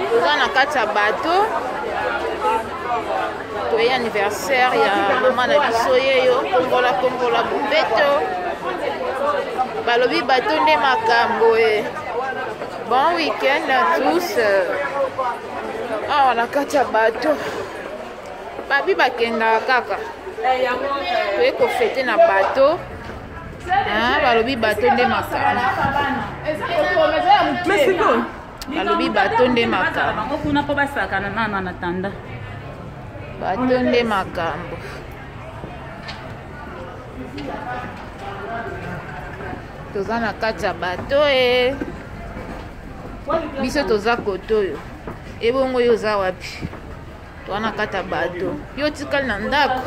toza na kati ya bato toye anniversaire ya mama na biso yeyo kongola kongola bobeto balobi bato nde makambo e bon week-end à tous awa na kati ya bato babi bakendaka kaka toye kofete na bato ah, balobi bato nde makambo balobi bato nde makambo kuna mpo basakana nana na tanda bato nde makambo toza na kati ya bato e biso toza kotoyo ebongo yo oza wapi wana kata bato yo otikali na ndako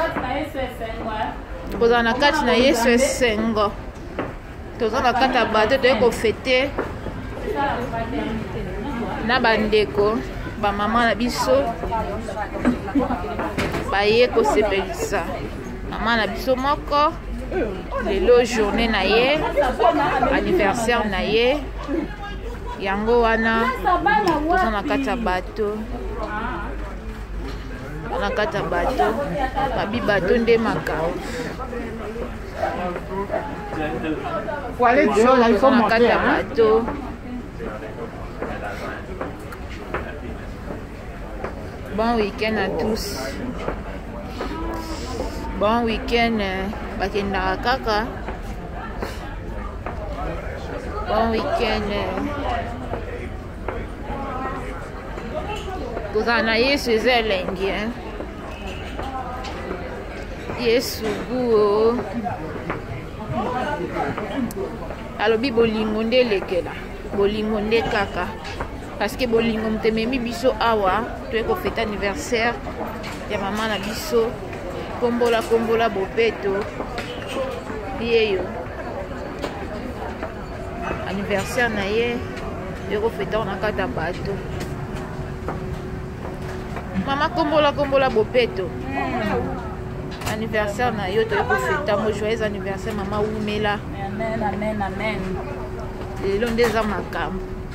kozala na kati na yesu esengo toza na kati ya bato toyei kofete na bandeko bamama na biso baye kosepelisa mama na biso moko lelo journée na ye anniversaire na ye yango wana toza na kati ya bato na kati ya bato babi bato nde makambo na kati ya bato Bon week-end à tous. Bon week-end euh, bakendaka kaka. Bon week-end. Euh. Kozala na Yesu eza elengi hein. Yesu guo. Alobi bolingo nde elekela. Bolingo nde kaka. parce que bolingo moto ememi biso awa toye kofete anniversaire ya mama na biso kombola kombola bopeto yeyo anniversaire na ye toye kofete awa na kati ya bato mama kombola kombola bopeto mm. anniversaire na yo toye kofete yango joyeux anniversaire mama wumela lelo nde eza makambo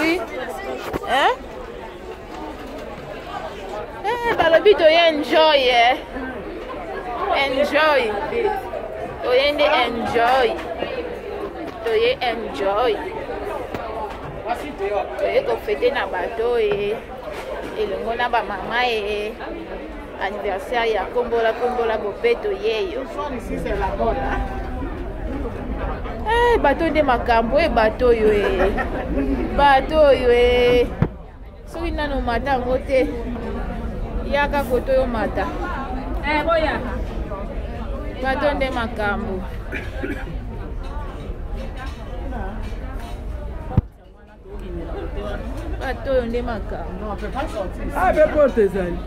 Oui. Hein? Eh, balobi toye enjoy eh. enjoy toye nde enjoy toye enjoy toye kofete na bato ye eh. elongo na bamama ye eh. Anniversaire ya kombola kombola bobeto yeyo. Eh, bato nde makambo e bato oyo e bato oyo e soki nano omata yango te yaka koto yo mata eh, bato nde makambo bato oyo nde makambo abe porte ezali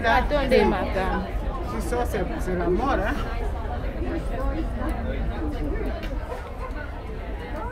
bato oyo nde makambo